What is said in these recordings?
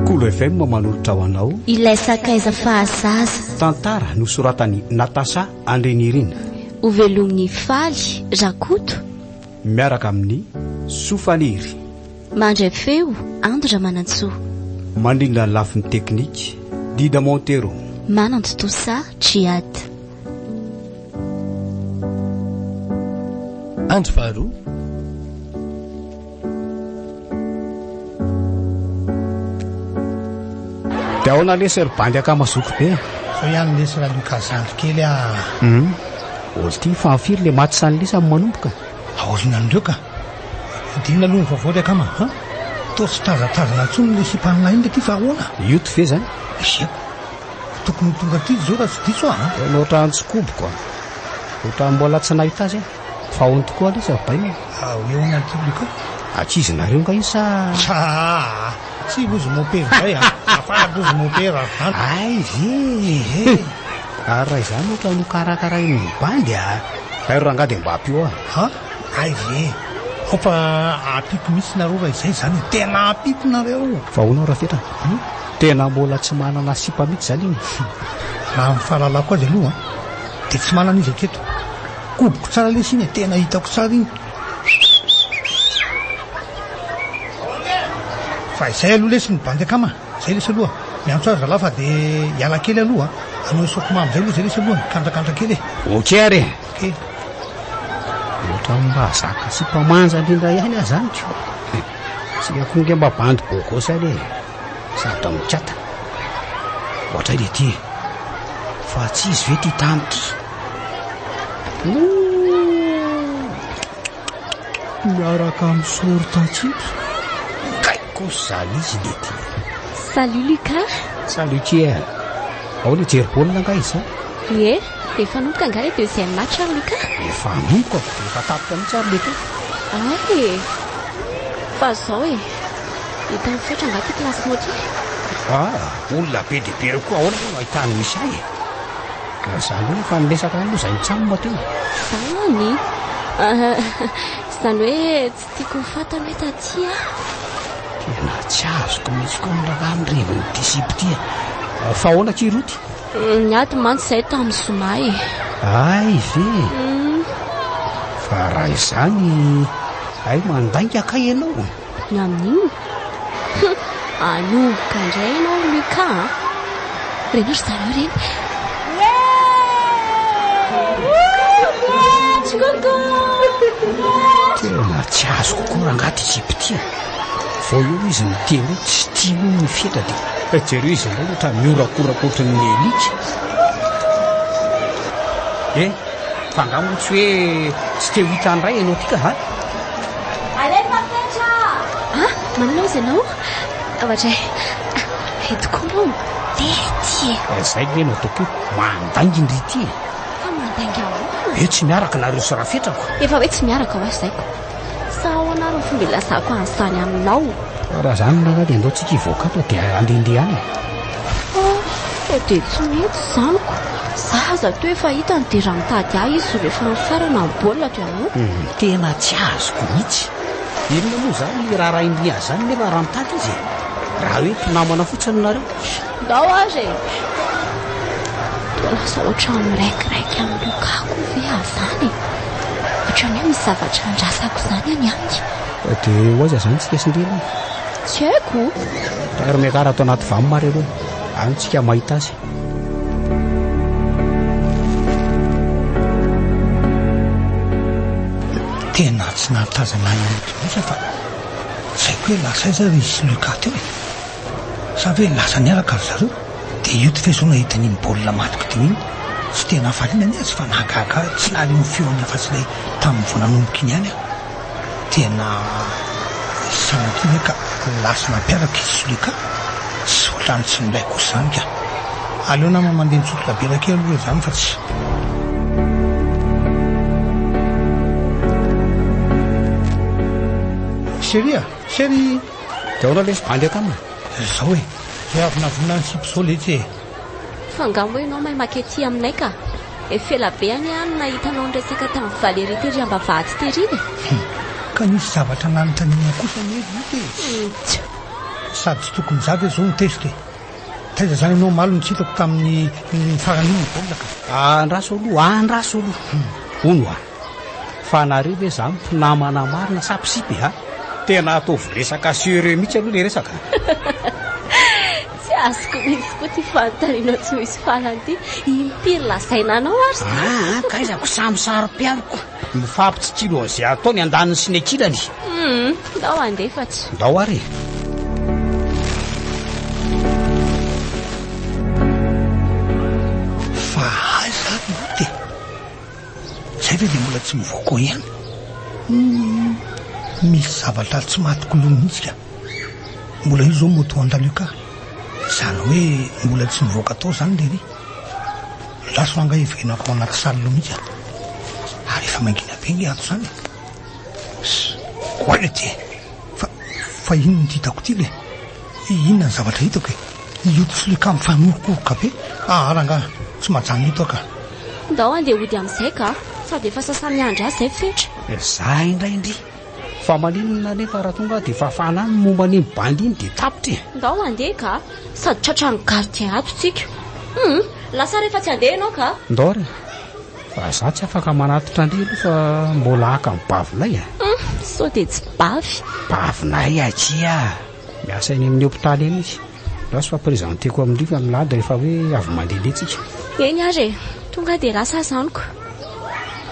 Kolo FM manolotra ho anao Ilay sakaiza fahazaza. Tantara nosoratan'i Natacha Andrinirina. Hovelomin'i Faly Rakoto. Miaraka amin'i Soa Falery. Mandray feo, Ando Ramanantsoa. Mandrindra ny lafiny teknika, Dida Montero. Manantontosa, Djihad. Andro faharoa. Dia ahoana lesy ry bandy ankamazoky be? Zao ihany lesy raha lioka zandry kely ah. Hum. Ol ty fa firy le maty sany lesy amin'ny manomboka? Aorina an'ireo ka. Dinina aloha ny vaovao ry akama ha. Toa tsy tazatazana intsony ny sipan'ilay inona ty fa ahoana? Youtube ve zany? Asiako. Tokony ho tonga aty izy zao raha tsy diso aho an! Tena ohatran'ny tsy koboko an! Ohatran'ny mbola tsy nahita azy aho! Fa on tokoa aloha izy ry bainina e! Ao eo ny antony ko! Ankizy nareo nga io sa? Aa! Tsy lozy mompera izay an! Afara lozy mompera an! Hay ve e! Ary raha izany ohatra no karakarain'ny bandy a! Hay ry rangahy dia mba ampio aho! Han! Hay ve e! Ao fa ampiko mihitsy nareo raha izay izany e! Tena ampiko nareo! Fa ahoana aho raha fetrany? Tena mbola tsy manana sipa mihitsy izany iny raha ny fahalalako azy aloha dia tsy manana izy hatreto. Koboko tsara lesy iny e, tena hitako tsara iny fa izay aloha lesy ny bandy akama izay lesy aloha miantso azy zalahy fa dia hiala kely aloha hanao isaoko mamy izay aloha izay lesy aloha mikandrakandraka kely e. Ok ary e. Ok. Ohatran'ny mba zaka sipa manja indrindra ihany aza zany ko. Tsy akonge mba bandy bogosy ary e. Sady mikata. Ohatray le ty e. Fa tsy izy ve ty tany ty? Miaraka amin'ny soro tatsitra. Kay kosa zany izy le ty. Salut Lucas. Salut Kier. Ao le jery baolina nga izao? Ie. Efa hanomboka angaha le deuxième match ary Lucas? Efa hanomboka e, efa tapitra mihitsy ary le teo. Ay e! Fa zao e! Hita misaotra angaha ty classe mot ty? Ah! Olona be dia be reo koa ahoana moa no ahitany misy ahy e! Ka zany hoe efa niresaka any moa zay nitsam teo e! Zany! Izany hoe Tiako ho fantany hoe taty aho. Tena tsy azoko mihitsy koa ny ravan'ny revin'ity sipa ity a! Fa ahoana akia Roty? Niady mantsy izahay tamin'ny zoma e! Hay ve? Fa raha izany, hay mandainga kay ianao? Ny amin'inona? Humm! Anomboka indray ianao ry Lucas a! Reny ry zareo reny! Tena tsy azoko koa rangaha ty jipe ty e. Vao eo izy miteny hoe tsy tiany ny fetra dia eh, jereo izy indray ohatra mihorakoraka ohatran'ny elika. Eh, Fa nga moa tsy hoe tsy te ho hita an'Ray ianao ty ka ha? Alefa fetra! Ah, maninona ozy ianao? Tabatray. Ah, eto koa moa mitety e. Eh, zay ve no ataoko io? Mandainginy ry ity e. Fa mandainga ahoana? Ve tsy miaraka nareo sy rafetrako? Efa hoe tsy miaraka ho'a zay. Sa ahoana ary ny fomba ilazako an'izany aminao? Raha izany ny raharaha dia andao tsika hivoaka ato dia handehandeha any. Oh, sao dia tsy mety izaniko. Za aza toa efa hita ny dia raha mitady ahy izy rehefa mifarana ny baolina dia moa. Ny tena tsy azoko mihitsy. Inona moa izany ny raharahin'i Nia izany nefa raha mitady izy e? Raha hoe mpinamana fotsiny nareo. Ndao ary e! Toa lasa ohatran'ny miraikiraiky amin'ny lokako ve aho izany e! Ohatran'ny hoe misy zavatra andrasako izany any aminy. Dia ho aiza izany isika sy ndry aloha? Tsy haiko. Ary miakara ato anaty vam ary aloha, any isika mahita azy. Tena tsy nahatazana an'ilay Tobiasa fa tsy haiko hoe lasa aiza izy sy Luca teo e! Sa ve lasa niaraka ry zareo? Dia io tifeso io nahita an'iny baolina maty kidim iny, tsy dia nahafaliana anie azy fa nahagaga ahy, tsy nahaliana ny feony afa-tsy ilay tamin'ny vao nanomboka iny ihany aho. Tena sanatria ve ka lasa nampiaraka i Sulika sy hotrany tsy milay kosa izany ka. Aleo nama mandeha mitsotra bière kely aloha izany fa tsy. Chérie a! Chérie! Dia ahoana lesy bandy akama? Zao e! Dia avy navona an'i sipo zao letsy e! Fa nga moa ianao may maka ety aminay ka? Efa ela be anie aho no nahita anao niresaka tamin'i Valery tery ambavahady tery e! Hum! Ka nisy zavatra nanontaniana kosa anie ry ota e! Tsia! Sady tsy tokony za ve izao no tezitra e! Taiza izany ianao omaly no tsy hitako tamin'ny farany iny ny baolina ka? Andraso aloha, andraso aloha! Hono hoa! Fa nareo ve zany mpinamana marina sa mpisipy a? Tena ataovy resaka serieux mihitsy aloha le resaka a! Tsy azoko mihitsy koa ty fanontaniana tsy misy farany ty. Impiry lazaina anao ary zany? Aa kaizako samy saro-pialoko. Mifampitsitsilo an'izay atao ny andaniny sy ny ankilany. Humm, ndao andefatra. Ndao ary e. Zay ve dia mbola tsy mivoaka ihany? Humm misy zavatra tsy matiko loha mihitsy ka! Mbola io zao moa toa andalio ka! Zany hoe mbola tsy mivoaka tao zany lery? Andraso angaha hiverenako ao anaty salle loha mihitsy an! Ary efa mangina be nge ato zany e! Squelette e! Fa fa inona ity hitako ity le? Inona ny zavatra hitako e? Io tilikambo mifanorokorka be? Aara angaha tsy majanona eto aho ka! Ndao handeha hody amin'izay ka! Sady efa sasa-miandry ahy izay fetra. Zah indray ndry! Fa maninona anefa raha tonga aho dia fafana any ny momba an'iny bandy iny dia tapitra e! Ndao handeha ka! Sady tratran'ny gardien ato isika. Hum! Lasa rehefa tsy handeha ianao ka! Ndao re! Fa zah tsy afaka manatitra ndry aloha fa mbola haka ny bavinay e! Hum! Sao dia tsy bavy? Bavinay akia! Miasa eny amin'ny hopitaly eny izy. Last fa presenteko amindrio fa milady rehefa hoe avy mandehandeha tsika. Eny ary e, tonga dia lasa aza amiko.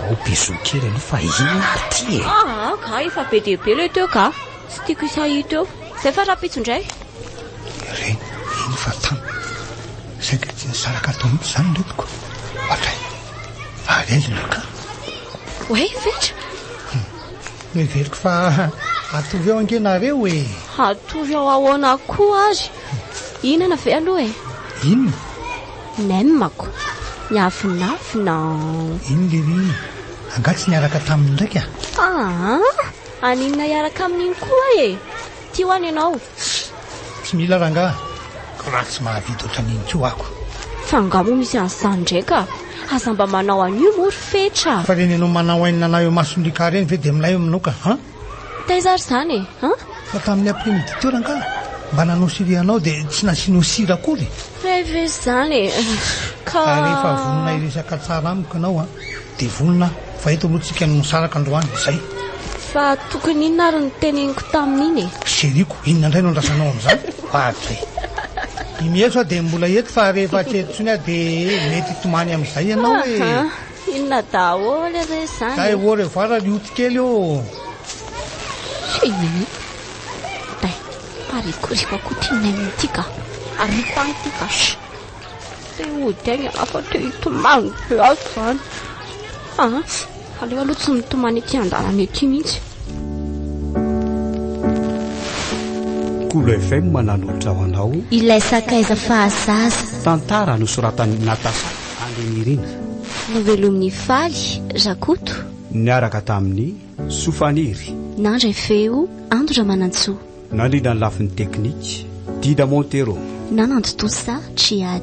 Ao bisous kely aloha fa inona ary ty e! Ah ah ka efa be dia be le teo ka, tsy tiako hisahito eo. Zay fa rahampitso indray. Ireny, eny fa tamy. Saingy tsy nisaraka tao mihitsy izany iretiko. Ohatray, alezina ka. Oay, fetra. Noheveriko fa hatory ao ange nareo e! Hatory ao ahoana koa ary? Hihinana ve aloha e? Inona? Nem ako. Miavonavona an! Iny lery iny. Angaha tsy niaraka taminy ndraika? Aa! Aninona hiaraka amin'iny koa e? Tio any ianao. Ssh! Tsy mila rangaha. Koa tsy mahavita ohatran'iny koa ako. Fa angaha moa misy an'izany indray ka? Aza mba manao an'io moa ry fetra. Fa ireny anao manao ainy nanao eo mason'i Ricard ireny ve dia milay eo aminao ka an? Taiza ary izany e an? Fa tamin'ny après midi teo rangaha mba nanao souris anao dia tsy nasianao sira akory. Hay ve izany e! Ka. Ka rehefa vonona hiresaka tsara amiko ianao an! Dia vonona aho, fa eto aloha tsika no misaraka androany, izay. Fa tokony inona ary no teneniko tamin'iny e? Chérie-ko, inona indray no andrasanao amin'izany? Padre e! I Mieso dia mbola eto fa rehefa tsy eto intsony aho dia mety hitomany amin'izay ianao e! Aha, inona daholo re izany e? Zay au revoir ry Oti kely ô! Inona ity? Day, parikoriko akoa ity Neny ity ka! Ariako any ity ka! Tsy hody aigna aho fa te hitomany be ato izany. Ah, aleo aloha tsy mitomany ety an-dalana ety mihitsy. Kolo FM mananolotra ho anao ilay sakaiza fahazaza. Tantara nosoratan'i Natasha Andrinirina. Novelomin'i Faly Rakoto. Niaraka tamin'i Soa Faniry. Nandray feo Ando Ramanantsoa. Nandrindra ny lafiny teknika, Dida Montero. Nanantontosa Tchiad.